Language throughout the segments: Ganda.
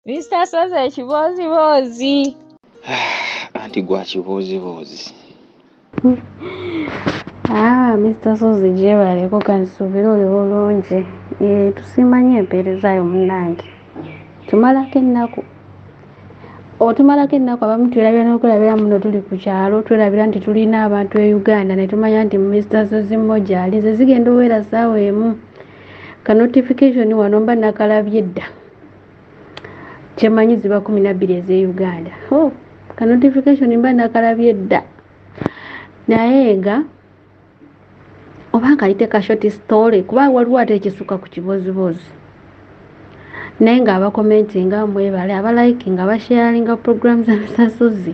Mr. Soze ekibooziboozi. Anti gwa kibooziboozi. Ah, Mr. Soze gyebaleko kansubira oli bulungi. Eh, tusimanyo empeereza yo munnange. Tumalako ennaku. Otumalako ennaku abamu twerabira n'okulabira muno tuli ku kyalo twerabira nti tulina abantu e Uganda ne tumanya nti Mr. Soze mmoja ali ze zigenda oweera ssaawa emu. Ka notification wano mba nakalabye dda. kyemanyi ziba kumi nabbiri eze uganda oh, ka notification mba nakalabye dda naye nga oba nkayite ka short story kuba waliwo ate ekisuka ku kibooziboozi naye nga abakomenti nga mwebale abalaiki nga basharinga program za misasuzi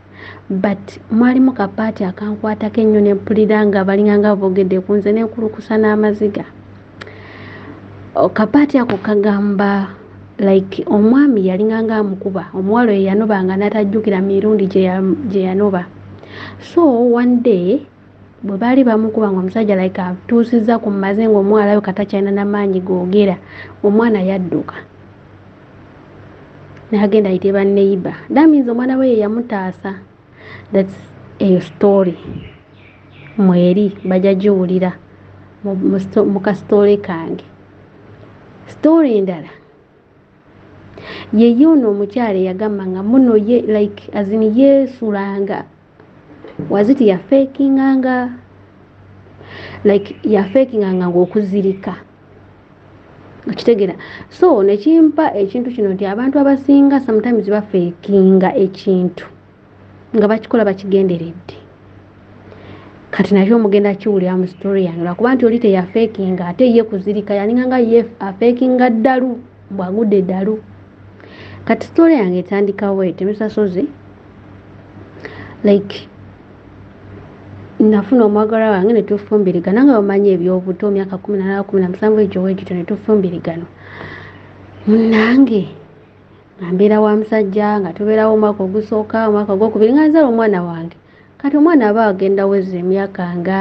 but mwalimu kapaati akankwatako ennyo ne mpulira nga balinga nga boogedde ku nze nenkulukusa n'amaziga oh, kapaati ako kagamba like omwami yalinga nga amukuba omuwala oyo yanoba nga natajjukira mirundi gye yanoba so one day bwe baali bamukuba nga omusajja like atuusizza ku maze nga omwalayo katakyalina namaanyi googera omwana yadduka nagenda ayite baneiba that means omwana we yeyamutaasa thats eyo story mweri bajja giwulira mu kasitoole kange story endala yeye ono omukyala eyagamba nga muno ye like azini yeesulanga waziti ya faking anga like ya faking anga ngokuzirika okitegera so nekimpa ekintu kino nti abantu abasinga sometimes bafekinga ekintu nga bakikola bakigenderedde kati nakyo omugenda kiwulira mu story yange lwakuba nti oli teyafekinga ate ye kuzirika yalinga nga ye afekinga ddalu bwagude dalu kati story yange etandika wet misasozi like nafuna omwagala wange netufumbirigana nga bamanyi ebyobuto myaka kumi nanaa kumi na musanvu ekyo wekityo netufumbirigana munange nga mbeera wa musajja nga tubeerawo omwaka ogusooka omwaka ogwokubiri nga nzala omwana wange kati omwana aba agenda weza emyaka nga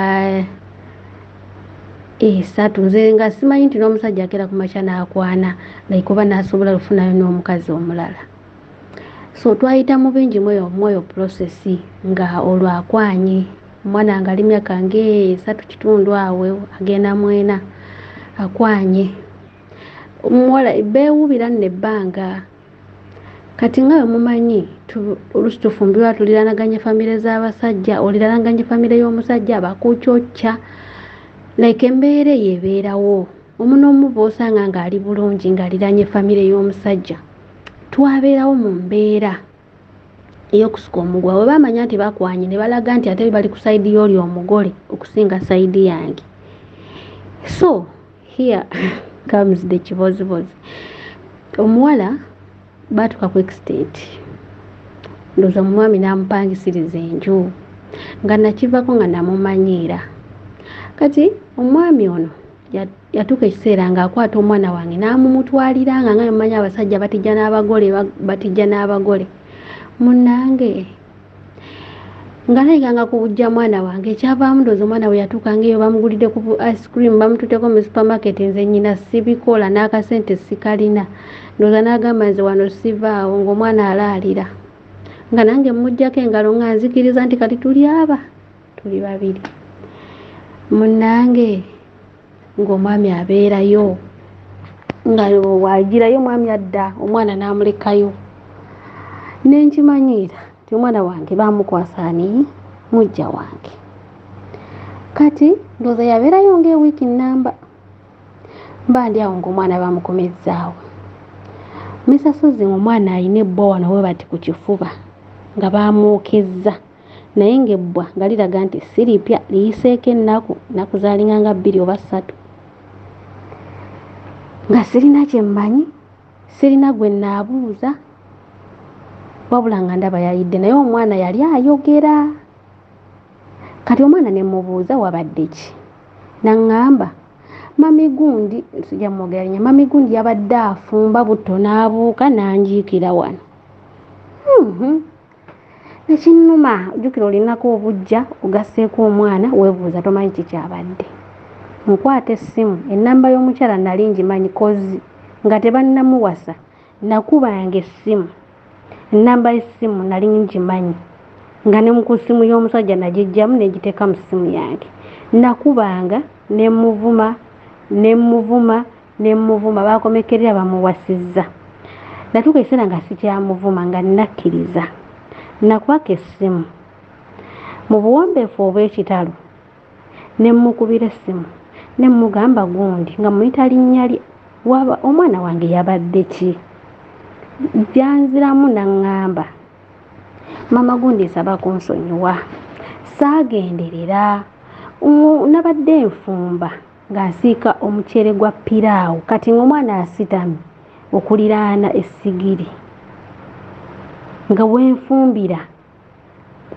esatu nze nga simanyi nti n'omusajja akera ku makya n'akwana like oba n'asobola lufunayo n'omukazi omulala so twayita mu bingi mweyo mwoyo prosesi nga olwakwanye omwana nga ali myaka ngaesatu kitundu awe agenda mwena akwanye muwala beewubira nno ebbanga kati nga wemumanyi olusi tufumbirwa tuliranaganye famire z'abasajja oliranaganye famire y'omusajja bakucocca like embeera eyo ebeerawo omu n'omu bwosanga ng'ali bulungi ng'aliranye famire y'omusajja twabeerawo mu mbeera eyokusuka omugwa we bamanya nti bakwanye ne balaga nti ate bali ku sayidi y'oli omugole okusinga sayidi yange so here comes the kibozibozi omuwala baatuka ku extent ndoza mumwami namupangisiriza enju nga nakivako nga namumanyiira kati omwami ono yatuuka ekiseera ngaakwata omwana wange namumutwalira nga nga mumanyi abasajja batijja n'abagole batijja n'abagole munange nga nayiganga ku bujja mwana wange ekyavaamu ndoozi omwana we yatuukanga eyo bamugulidde ku ice cream bamututeko mu supermarket nze nyina sibikola n'akasente sikalina ndooza n'agamba nze wano sivaawo ng'omwana alaalira nga nange mujjako engalo nga nzikiriza nti kati tuli aba tuli babiri munange ng'omwami abeerayo nga wagirayo omwami adda omwana n'amulekayo ne nkimanyiira nti omwana wange baamukwasa ani mujja wange kati ndooza yabeerayo ng'ewiiki nnamba mba ndi awo ng'omwana bamukomezzaawo misasozi omwana alina ebbwa wano we bati ku kifuba nga baamwokezza naye ng'ebbwa nga liraga nti si lipya liyiseeko ennaku nnaku zaalinga nga bbiri oba ssatu nga sirina kye mmanyi sirina gwe nnaabuuza wabula nga ndaba yayidde naye omwana yali ayogera kati omwana ne mmubuuza wabadde ki naŋŋamba mami gundi sijja mwogera linya mami gundi yabadde afumba butto n'abuuka n'anjiikira wano hmm, hmm. ekinnuma jjukira olinako obujja ogasseeko omwana weebuuza tomanyi kikyabadde nkwata essimu ennamba y'omukyala nali ngimanyi kozi nga tebannamuwasa nakubanga essimu ennamba y'essimu nali ngimanyi nga ne ku ssimu y'omusajja nagijjamu negiteeka mu ssimu yange nakubanga nemuvuma nemuvuma ne mmuvuma baakomekkerera bamuwasizza natuuka ekiseera nga sikyamuvuma nga nnakkiriza nakwaka essimu mu buwombeefu obw'ekitalo ne mmukubira essimu ne mmugamba gundi nga muyita linnya lye waba omwana wange yabadde ki janziramu naŋŋamba maama gundi nsaba kunsonyiwa saagenderera nabadde nfumba ng'asiika omuceere gwa piraawo kati ng'omwana asitami okuliraana essigiri nga wenfumbira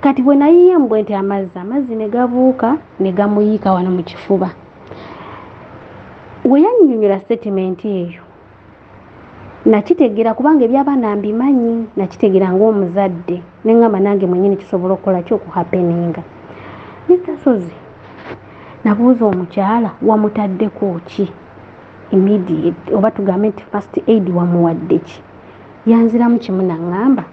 kati bwe nayiye mbwe nti amazzi amazzi ne gabuuka ne gamuyiika wano mu kifuba we yannyonnyola sitatimenti eyo nakitegera kubanga ebyabaana mbimanyi nakitegera ngaomuzadde neŋamba nange mwenyini kisobola okukola ki okuhapeninga netasozi nabuuza omukyala wamutaddeko ki immediate oba tugambe nti first aid wamuwadde ki yanziramu kimu naŋamba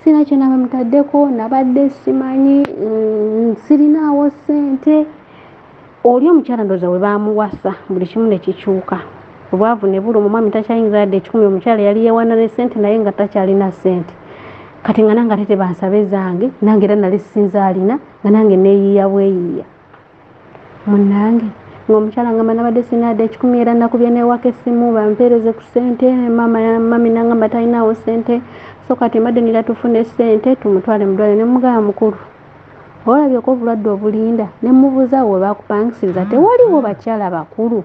sina kyona bamutaddeko nabadde simanyi mm, sirinaawo sente oli omukyala ndoza we bamuwasa buli kimu ne kikyuka obwavu ne bulu omwami takyayinza yadde ekikumi omukyala yali yewana ne sente naye nga takyalina sente kati nga nange ate tebansaba ezange nange era nali sinza alina nga nange neyiiya bweyiiya munange ngaomukyala nga manabadde sinaadde ekikumi era nakubye newaka essimu bampeereze ku sente mami nangamba talinawo sente so kati mbadde nira tufune sente tumutwale mudwale nemugaba mukulu olabyeko obulwadde obulinda ne mubuuza we bakupangisiriza mm. tewaliwo bakyala bakulu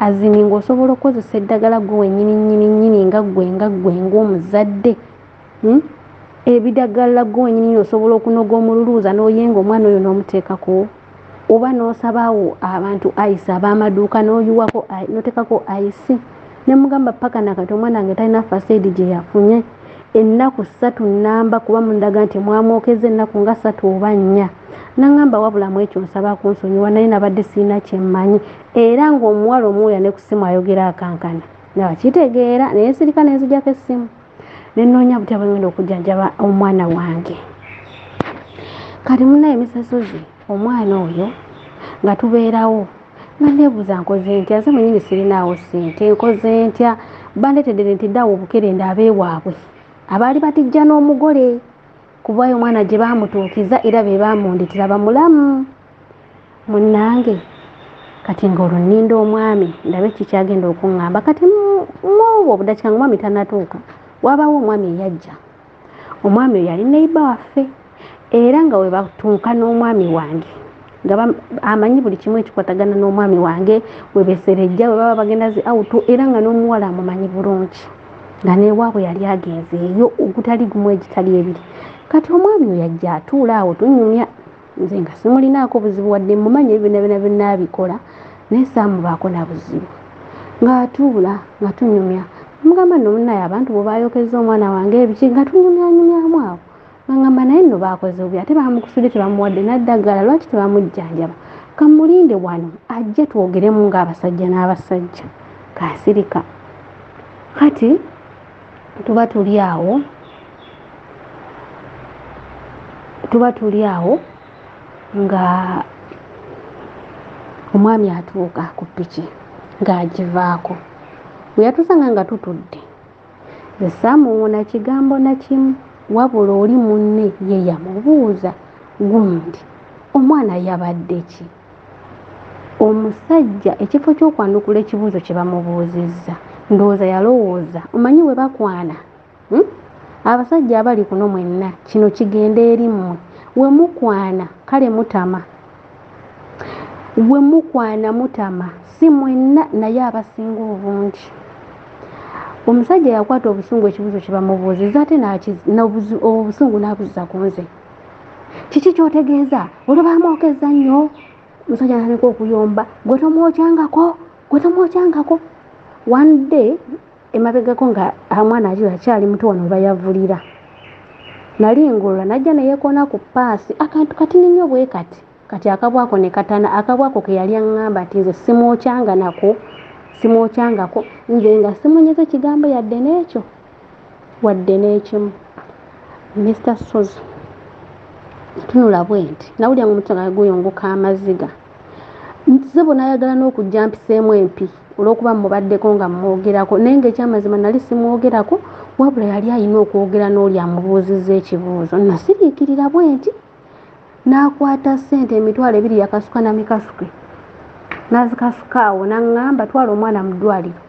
azini ng'osobola okukozesa eddagala gwe wenyini nyini nyini nga gwe nga gwe ng'omuzadde hmm? ebidagala gwe wenyini nyini osobola okunoga omululuuza n'oyenga omwana oyo n'omuteekako oba n'osabawo abantu ice ab'amaduuka n'oyiwako noteekako ice ne mugamba paka nakati omwana nge talina fasaidi gye yafunye ennaku ssatu nnamba kuba mundaga nti mwamwokeza ennaku nga ssatu oba nnya naŋamba wabulamu ekyo nsaba kunsonyiwa naye nabadde sirina kyemmanyi era ng'omuwala omuwuya ne ku ssimu ayogera akankana nabakitegeera naye sirika nenzijako essimu ne nnoonya butya bwe ngenda okujjanjaba omwana wange kati munaye misasozi omwana oyo nga tubeerawo nga neebuuza nkoze ntya nze mwenyini sirinaawo ssente nkoze ntya bandeteddere nti ddawo obukerenda abeewaabwe abaali batijja n'omugole kubayo omwana gye baamutuukiza era be baamunditira bamulamu munnange kati nga olwo nninda omwami ndabe kikyagenda okuŋŋamba kati mwobwo obudakika nga omwami tanatuuka wabawo omwami eyajja omwami oyo yali neiba waffe era nga webatuuka n'omwami wange nga amanyi buli kimu ekikwatagana n'omwami wange webeserejja webaba bagenda zi auto era nga n'omuwala amumanyi bulungi nga newaabwe yali agenzeeyo ogutali gumu egitali ebiri kati omwami oyo ajja atuula awo tunyumya nze nga simulinaako buzibu wadde mumanya ebibina bina byonna abikola naye saamubaako na buzibu ng'atuula nga tunyumya mugamba nno munaye abantu bwe bayokezza omwana wange ebiki nga tunyumyanyumyamu awo ngamba naye nno baakoze obi ate baamukusudde tebamuwadde naddagala lwaki tebamujjanjaba kamulinde wano ajje twogeremu ng'abasajja n'abasajja kansirika kati tuba tuli awo tuba tuli awo nga omwami atuuka ku piki ng'agivaako bwe yatusanga nga tutudde ze saamuwona kigambo na kimu wabula oli munne ye yamubuuza gundi omwana yabadde ki omusajja ekifo kyokwanukula ekibuuzo kye bamubuuzizza ndowooza yalowooza omanyi we bakwana hmm? abasajja abali kuno mwenna kino kigenda eri mmwe we mukwana kale mutama we mukwana mutama si mwenna naye abasinga obungi omusajja yakwata obusungu ekibuuzo kye bamubuuzizza ate obusungu n'abuzza ku nze kiki kyotegeeza olubamwokezza nnyo musajja natandika okuyomba gwe tomwokyangako gwe tomwokyangako one day emabegako nga amwana ajo akyali muto wano webayavulira nali ngolola najja neyekoona ku paasi akantu katini nnyo bwe kati kati akabwa ako ne katana akabwa ako ke yali aŋŋamba nti nze simwokyanga nako simwokyangako nze nga simunyeze kigambo yadde n'ekyo wadde n'ekimu mr sozi tunula bwe nti nawulira nga omutima gange guyunguka amaziga sebo nayagala n'okujja mpiseemu empi olw'okuba mubaddeko nga mumwogerako naye ngaekyamazima nali simwogerako wabula yali alina okwogera n'oli amubuuzizza ekibuuzo nasiriikirira bwe nti n'akwata ssente emitwalo ebiri yakasuka na mikasuke n'azikasuka awo n'aŋŋamba twala omwana mu ddwaliro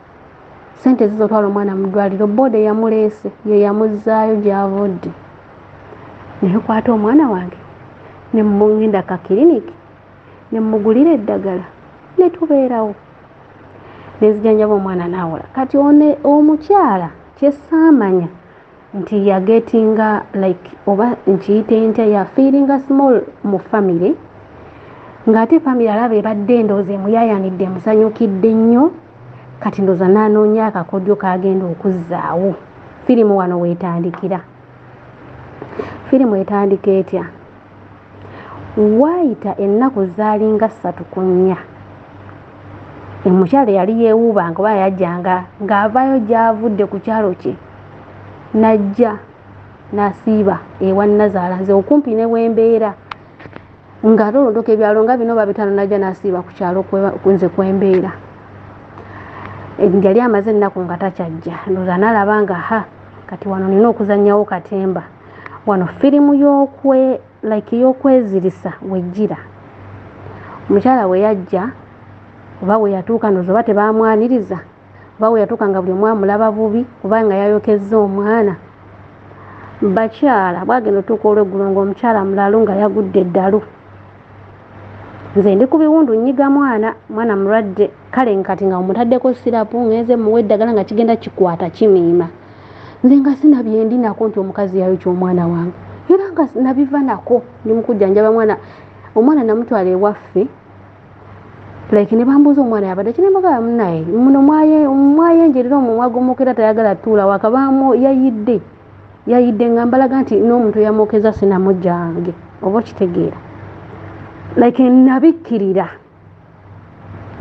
ssente zizo twala omwana mu ddwaliro booda eyamuleese ye yamuzzaayo gy'avudde nekwata omwana wange ne mungenda ka kiriniki ne mmugulira eddagala ne tubeerawo ne nzijanjaba omwana n'awola kati omukyala kyesaamanya nti ya gettinga like oba nkiyite ntya ya feelinga small mu family ng'ate family alaba ebadde endooza emuyayanidde emusanyukidde nnyo kati ndooza n'anoonya akakodyo kagenda okuzzaawo firimu wano weetandikira firimu etandika etya waayita ennaku zaalinga ssatu ku nnya omukyalo yali yeewuubanga oba yajjanga ng'avaayo gy'avudde ku kyalo kye n'ajja n'asiiba ewa nnazaala nze okumpi ne wembeera nga tolondoka ebyalo nga bino babitaano n'ajja n'asiiba ku kyalo nze kwembeera yali amaze ennaku nga takyajja ndoza nalaba nga ha kati wano nina okuzanyawo katemba wano firimu y'okwe like y'okwezirisa wejjira omukyala we yajja oba we yatuuka noza oba tebaamwaniriza oba we yatuuka nga buli omwamulaba bubi oba nga yayokezza omwana bakyala bwagenda otuuka olweggulo ngaomukyala mulalu nga yagudde eddalu nze ndi ku biwundu nnyiga mwana mwana mulwadde kale nkati nga omutaddeko sirapu ngenze muwa eddagala nga kigenda kikwata kimiima nze nga sina byendi nako nti omukazi yayokya omwana wange era nga nabiva nako ndi mukujjanjaba mwana omwana namutwala ewaffe like ne bambuuza omwana yabadde ki nemagala munaye muno mwayenjerera omumwa gomukera tayagala tuula wakabaamu yayidde yayidde nga mbalaga nti n'omuntu yamwokeza sinamujjange oba okitegeera like nabikkirira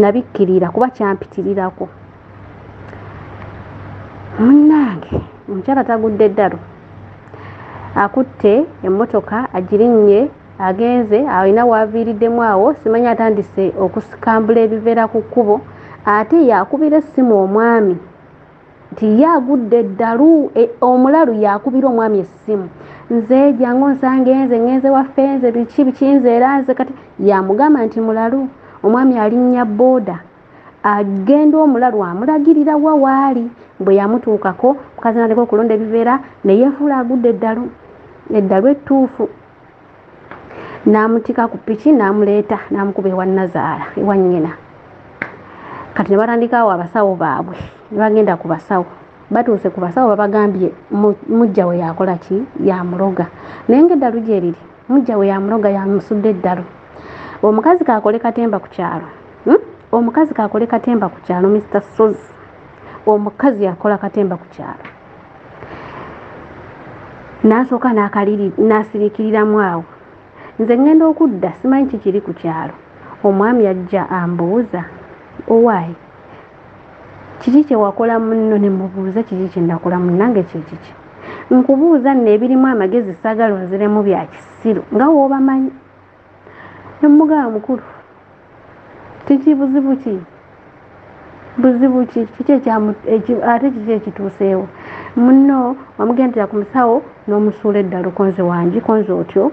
nabikkirira kuba kyampitirirako munnange omukyala tagudde eddalu akutte emmotoka agirinnye agenze alina waaviiriddemu awo simanyi atandise okusikambula ebiveera ku kkubo ate yakubira essimu omwami nti ye agudde eddalu e, omulalu yakubira omwami essimu nze jangu nsange nze ngenze waffe nze biki biki nze era nze kati yamugamba nti mulalu omwami alinnya booda agenda omulalu amulagirira wa waali bwe yamutuukako mukazi nateka okulonda ebiveera neyefuula agudde eddalu eddalu ettuufu n'amutika ku piki n'amuleeta n'amukuba ewa nazaala ewa nnyina kati ne batandikaawo abasawo baabwe ne bagenda ku basawo batuuse ku basawo babagambye mujja we yakola ki yamuloga naye ngaeddalu gyeriri mujja we yamuloga yamusudde eddalu omukazi kakole katemba ku kyalo hmm? omukazi kakole katemba ku kyalo mr sozi omukazi yakola katemba ku kyalo nansooka nasirikiriramu awo nze ŋŋenda okudda simanyi kikiri ku kyalo omwami ajja ambuuza owaayi kiki kyewakola munno ne mubuuza kiki kyenakola munnange kyekiki nkubuuza nno ebirimu amagezi saagala onziremu bya kisiru nga woobamanyi nemugamba mukulu kiki buzibu ki buzibu ki kiki ate kiki ekituuseewo muno wamugendera ku musawo n'omusuula eddala okonze wangi konze otyo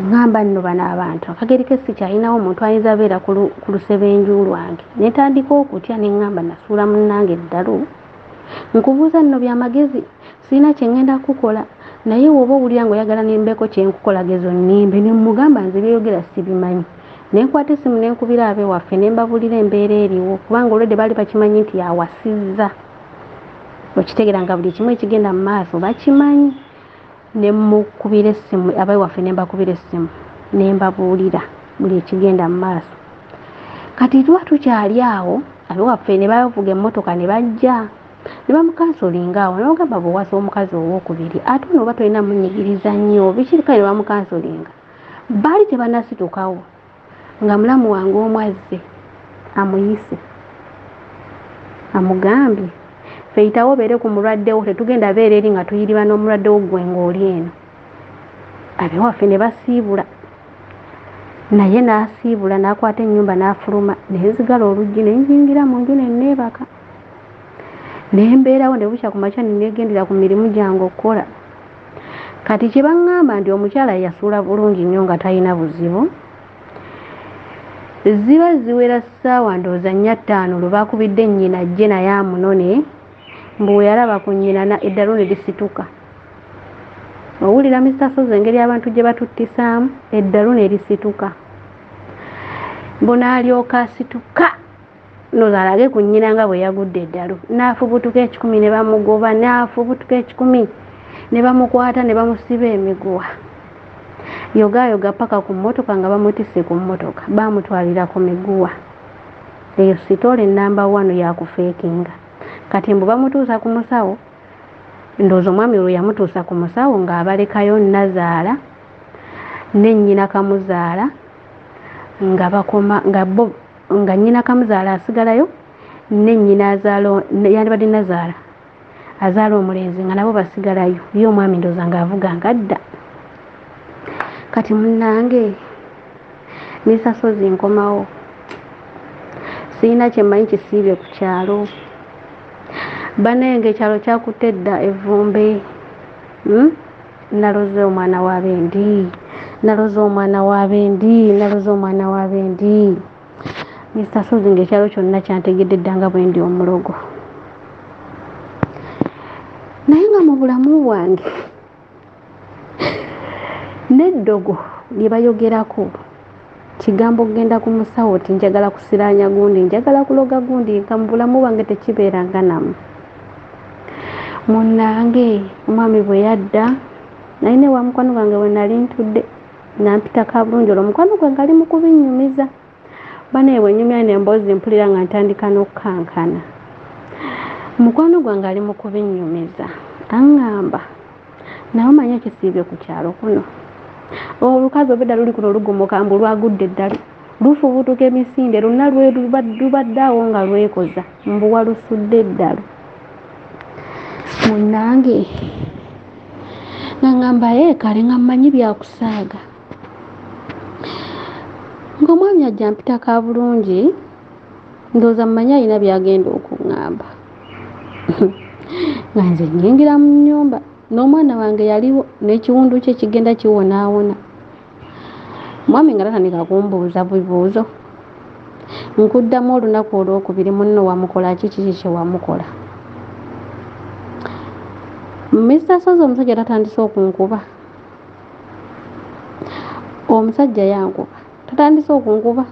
ngamba nno bano abantu akageri ke sikyalinawo omuntu ayinza abeera ku lusebenju lwange netandika okutya nengamba nasuula munnange eddalu nkubuuza nno byamagezi Sirina kye ŋŋenda kukukola, naye w'oba owulira ng'oyagala ne mbeeko kye nkukola geza onnimbe. Ne mmugamba nze by'oyogera sibimanyi. Ne nkwata essimu ne nkubira abe waffe ne mbabuulira embeera eriwo kubanga olwedde baali bakimanyi nti yawasizza. Okitegeera nga buli kimu ekigenda mu maaso bakimanyi. Ne mmukubira essimu, abe waffe ne mbakubira essimu ne mbabuulira buli ekigenda mu maaso. Kati tuba tukyali awo, abe waffe ne bavuga emmotoka ne bajja. ne bamukansolinga awo ne bagamba bwewasa omukazi owokubiri ate ono oba tolina munyigiriza nnyo bikirikale ne bamukansolinga baali tebanasitukawo nga mulamu wange omu azze amuyise amugambye feyitawo obeere ku mulwaddewo tetugenda beera eri nga tuyiriba n'omulwaddewo gwe ng'oli eno abewaffe ne basiibula naye n'asiibula n'akwata ennyumba n'afuluma nenzigala oluggi ne njingira mu nju ne nneebaka naye mbeerawo ne bukya ku makya nenegendera ku mirimu gyange okukola kati kye baŋŋamba nti omukyala yasuula bulungi nnyo nga talina buzibu ziba ziwera ssaawa ndowooza nnya ttaano lwe bakubidde nnyina ajje naye amunone mbu weyalaba ku nnyina eddalu ne lisituka owulira mista sozi engeri abantu gye batuttisaamu eddalu ne lisituka mbunaalyoka asituka noza alage ku nnyina nga bwe yagudde eddalu n'afubutuka ekikumi ne bamugoba n'afubutuka ekikumi ne bamukwata ne bamusiba emiguwa yogaayoga paka ku mmotoka nga bamutisse ku mmotoka baamutwalira ku miguwa eyo sitoole namba wanu yakufeekinga kati mbu bamutuusa ku musawo ndoozi omwami olwo yamutuusa ku musawo ng'abalekayo nazaala nennyina kamuzaala nga bakoma nga bo nga nnyina kamuzaala asigalayo ne nnyina azaala yandibadde nazaala azaala omulenzi nga nabo basigalayo ye omwami ndoza nga avuga nga adda kati munange nesasozi nkomawo sirina kyemanyi kisiibye ku kyalo banaye nga ekyalo kyakutte edda evumbe hmm? naloze omwana wa bendi naloze omwana wa bendi naloze omwana wa bendi mr sozi ngaekyalo kyonna kyantegedde ddanga bwendi omulogo naye nga mu bulamu bwange n'eddogo lye bayogerako kigambo okugenda ku musawo ti njagala kusiraanya gundi njagala kuloga gundi nka mu bulamu bwange tekibeeranga namu munnange omwami bwe yadda naye ne wa mukwano gwange bwe nali ntudde nampita ka bulungi olwo omukwano gwe ngali mu kubinnyumiza banaye bwe nnyumya ne emboozi mpulira nga ntandika n'okukankana mukwano gwange ali mu kubinnyumiza aŋŋamba naye omanyi ekisiibye ku kyalo kuno olukazi obedda luli kuno lugomoka mbu lwagudde eddali lufubutuka emisinde lwonna lubadde awo nga lwekoza mbu walusudde eddalu munange ngangamba ye kale nga mmanyi byakusaaga ng'omwami ajja mpita ka bulungi ndowooza mmanyi alina byagenda okuŋŋamba nga nze nyingira mu nyumba n'omwana wange yaliwo n'ekiwundu kye kigenda kiwonaawona mwami nga tatandika kumbuuza bibuuzo nkuddamu olunaku olwokubiri munno wamukola ki kiki kyewamukola mister sozi omusajja tatandise okunkuba omusajja yankuba tatandise okunkuba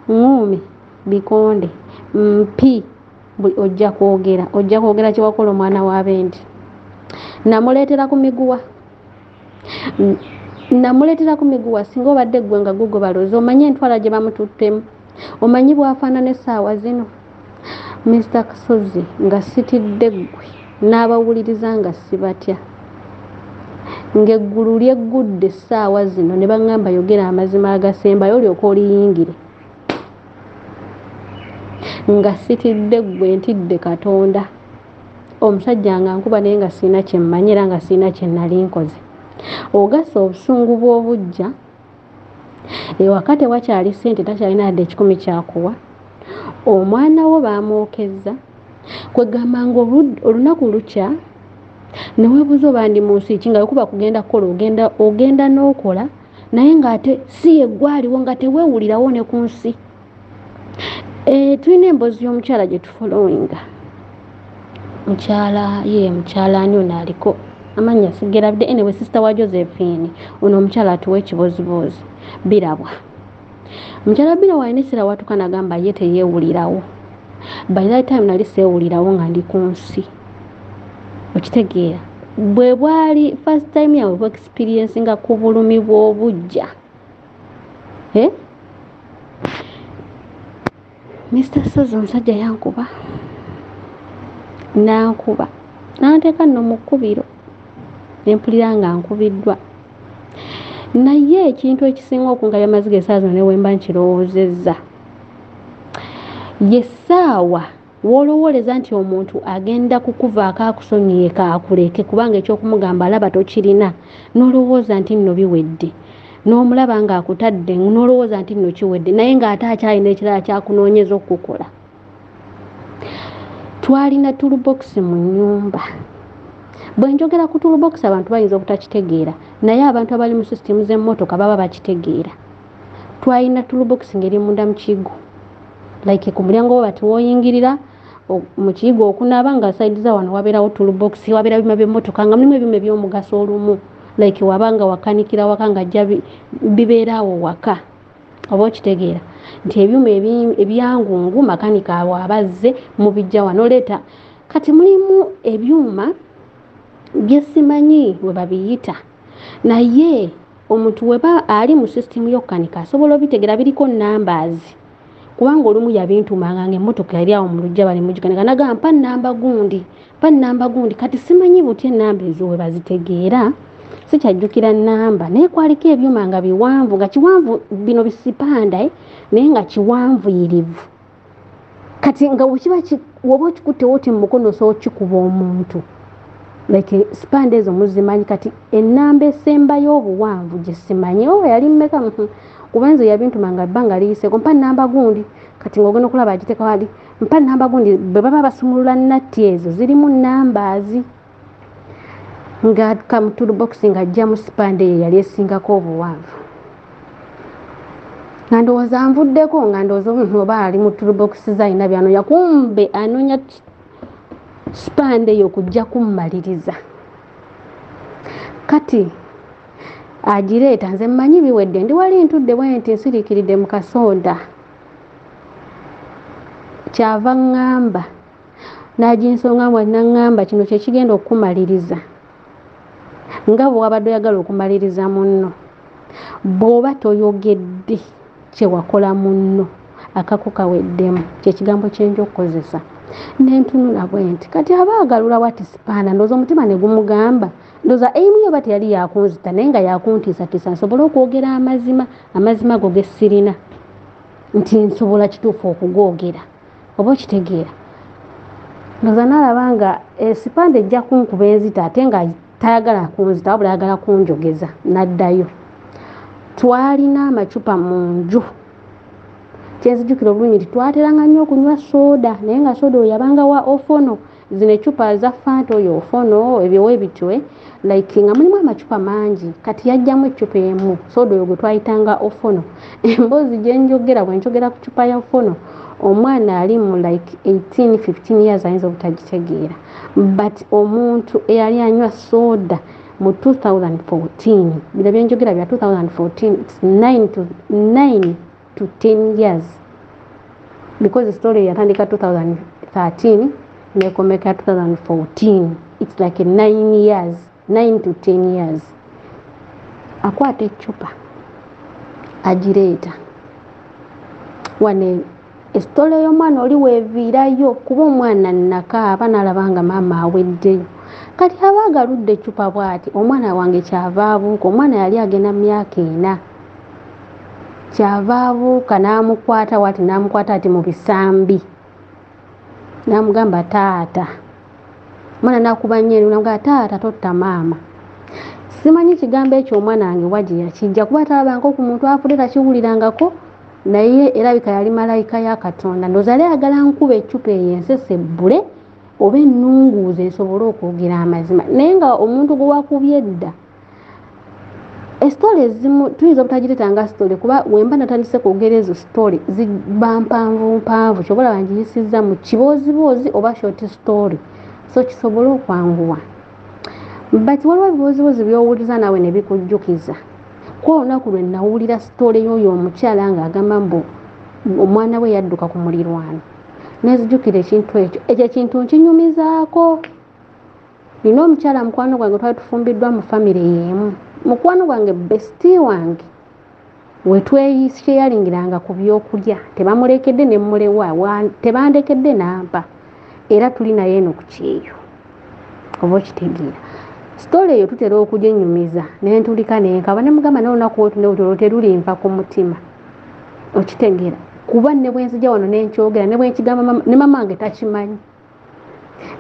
nguumi bikonde mpi ojja kwogera ojja kwogera kyewakola omwana wa bendi namuleetera ku miguwa namuleetera ku miguwa singa obadde eggwe nga gugo baloozi omanye entwala gye bamututtemu omanyi bwafaanana essaawa zino mister kasozi nga sitidde ggwe n'abawuliriza nga sibatya ng'eggulu lyeggudde essaawa zino ne baŋŋamba yogera amazima agasembayo olyoka oliyingire nga sitidde ggwe ntidde katonda omusajja nga nkuba naye nga sirina kyemmanyi era nga sirina kyenali nkoze ogasa obusungu bw'obujja ewaka tewakyali ssente takyalina yadde ekikumi kyakuwa omwana wo baamwokezza kwegamba nga olunaku lukya newebuuza obandi mu nsi ki nga wekuba kugenda kukola ogenda ogenda n'okola naye ng'ate si yeggwaliwo nga teweewulirawo ne ku nsi eh, tulina emboozi y'omukyala gye tufolowinga mukyala ye mukyala ani ono aliko amannya sigerabidde enewe sisita wa josephine ono omukyala atuwa ekiboziboozi birabwa mukyala birabwa alina ekiseera watuka nagamba ye teyeewulirawo by that time nali seewulirawo nga ndi ku nsi okitegeera bwe bwali first time yawe experiencinga ku bulumi bw'obujja eh? mr sozi omusajja yankuba nankuba nanteeka nno mu kkubiro nempulira nga nkubiddwa naye ekintu ekisinga okungabya amaziga esaawa zino newemba nkirowoozezza ye ssaawa w'olowooleza nti omuntu agenda kukuvaako akusonyiye kaakuleke kubanga ekyokumugamba alaba tokirina n'olowooza nti nno biwedde n'omulaba ng'akutadde n'olowooza nti nno kiwedde naye ng'ate akyalina ekirala kyakunoonyeza okukukola twalina tulubokisi mu nnyumba bwe njogera ku tulubokisi abantu bayinza obutakitegeera naye abantu abali mu sisitimu z'emmotoka baba bakitegeera twalina toolbox ngeri munda mu kiyigo like ku mulyango wo bati woyingirira mu kiyigo okunaba nga saidi za wano wabeerawo toolbox wabeera byuma by'emmotoka nga mulimu ebyuma eby'omugaso olumu like waba nga wakanikira waka nga jja bibeeraawo waka oba okitegeera nti ebyuma ebyangungu makanika abo abazze mubijja wano leeta kati mulimu ebyuma byesimanyi we babiyita naye omuntu weba ali mu system yokukanika asobola obitegera biriko numbers kubanga olumu yabintumanga nga emotoka yali awo mu lujja bali mugikanika nagamba mpa namba gundi mpa namba gundi kati simanyi buti enamba ezo webazitegeera sikyajjukira namba naye kwaliko ebyuma nga biwanvu nga kiwanvu bino bisipanda eh, naye nga kiwanvuyirivu kati nga wekiba woba okikutte woti mu mukono osobola okikuba omuntu like sipande ezo muzimanyi kati enamba esembayo obuwanvu gyesimanyi o oh, yali mmeka mhm. kuba nze yabintuma nga bbanga liyiseko mpa namba gundi kati ngaogenda okulaba agiteka wali mpa namba gundi bwe baba basumulula natti ezo zirimu nambazi nga kamutulu bokisi nga ajja mu sipande eyo yali esingako obuwanvu nga ndowooza nvuddeko nga ndowooza omuntu oba ali mu tulu bokisi zalina byanonya kumbe anonya sipande eyo kujja kummaliriza kati agireeta nze mmanyi biwedde ndi wali ntudde bwe nti nsiriikiridde mu kasonda kyava ŋŋamba n'aginsonga mu naŋŋamba kino kye kigenda okukumaliriza nga bwe wabadde oyagala okumaliriza munno bw'oba toyogedde kye wakola munno akako kaweddemu kyekigambo kyenja okukozesa nentunula bwe nti kati aba agalula watisipaana ndooza omutima ne gumugamba ndooza eimu yoba teyali yakunzita naye nga yakuntiisatiisa nsobole okwogera amazima amazima go gesirina nti nsobola kituufu okugoogera oba okitegeera ndoza nalaba nga esipande eh, ejja kunkuba enzita ate nga tayagala kunzita wabula ayagala kunjogeza naddayo twalina amacupa mu nju kyenzijukira obulungi nti twateranga nnyo okunywa sooda naye nga sooda oyo yabanga wa ofono zino ecupa za fanta oyo ofono ebyowe bitwe like nga mulimu amacupa mangi kati yajjamu ecupa emu soda oyo gwetwayitanga ofono emboozi gyenjogera bwenjogera ku cupa ya ofono omwana ali mu like 1815 years ayinza obutagitegeera but omuntu eyali anywa soda mu 2014 bino byenjogera bya 2014 9 to 9 to 10 years because story yatandika 2013 nekomeka 2014 its like 9 years 9 to 10 years akwata ecupa agireeta wane esitole y'omwana oli weviirayo kuba omwana nakaaba nalaba nga maama aweddeyo kati aba agaludde ecupa bwati omwana wange kyava abuuka omwana yali agenda mu myaka ena kyava abuuka n'amukwata wati n'amukwata ati mu bisambi n'amugamba taata omwana nakuba nnyo eri namugaa taata totta maama simanyi kigambo ekyo omwana wange wa gye yakijja kuba talabanga ku muntu afudde takiwulirangako naye erabika yali malayika ya katonda ndoza yali ayagala nkuba eccupa eyo ensese ebbule oba ennunguuza esobole okwogera amazima naye nga omuntu gwe wakubye edda esitole ezimu tuyinza obutagireta nga sitole kuba wemba natandise kwogera ezo sitole ziba mpanvu mpanvu kyobola bangiyisiza mu kibooziboozi oba short story so kisobole okwanguwa but waliwo ebibooziboozi byowuliza naawe nebikujjukiza ku olunaku lwe nawulira sitole yoyo omukyala nga agamba mbu omwana we yadduka ku mulirwano nezijukira ekintu ekyo ekyo ekintu nkinyumizaako nina omukyala mukwano gwange twali tufumbiddwa mu famire yeemu mukwano gwange besti wange wetweyisheyaringiranga ku byokulya tebamulekedde nemulewa tebandekedde nampa era tuli naye eno ku kyeyo oba okitegeera sitole eyo tutera okujenyumiza nentulika nenkaba nemugamba naye olunaku wetunewutolo terulimpa ku mutima okitegeera kuba ne bwenzija wano nenkyogera ne bwenkigamba ne mama wange takimanyi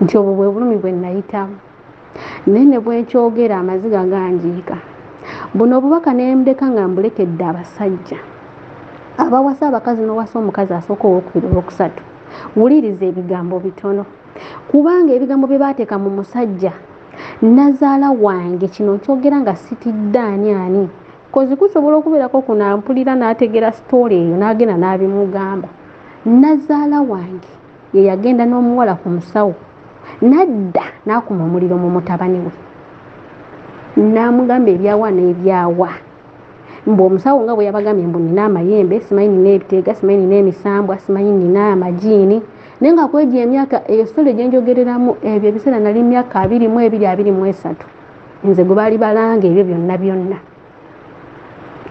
nti obwo bwe bulumi bwe nnayitamu naye ne bwenkyogera amaziga ganjiika buno obubaka nembuleka nga mbulekedde abasajja abawasa abakazi nowasa omukazi asooka owokubiri olwokusatu wuliriza ebigambo bitono kubanga ebigambo bye baateeka mu musajja nazaala wange kino nkyogera nga sitidde ani ani kozi kusobola okubeerako kunampulira n'ategeera sitoole eyo n'agenda n'abimugamba nazaala wange ye yagenda n'omuwala ku musawo n'adda n'akuma omuliro mu mutabani we n'amugamba ebyawa n'ebyawa mbu omusawo nga bwe yabagambye mbu nina amayembe simanyi nina ebiteega simanyi nina emisambwa simanyi nina amajiini naye nga kwegyo emyaka eyo sole gyenjogereramu ebyo ebiseera nali myaka abiri mu ebiri abiri mu esatu nze gwe baali balanga ebyo byonna byonna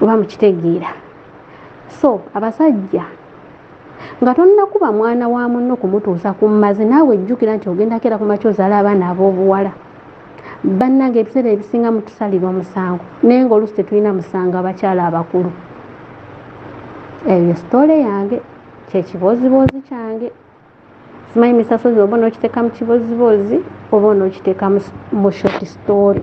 oba mukitegeera so abasajja nga tonnakuba mwana wa munno kumutuusa ku mmazi naawe jjukira nti ogenda keera ku makya ozaala abaana ab'obuwala bannanga ebiseera ebisinga mutusalira omusango naye nga oluusi tetulina musango abakyala abakulu eyo sitole yange kyekibooziboozi kyange simanyi misasozi oba onokiteeka mu kibooziboozi oba onokiteeka mu short story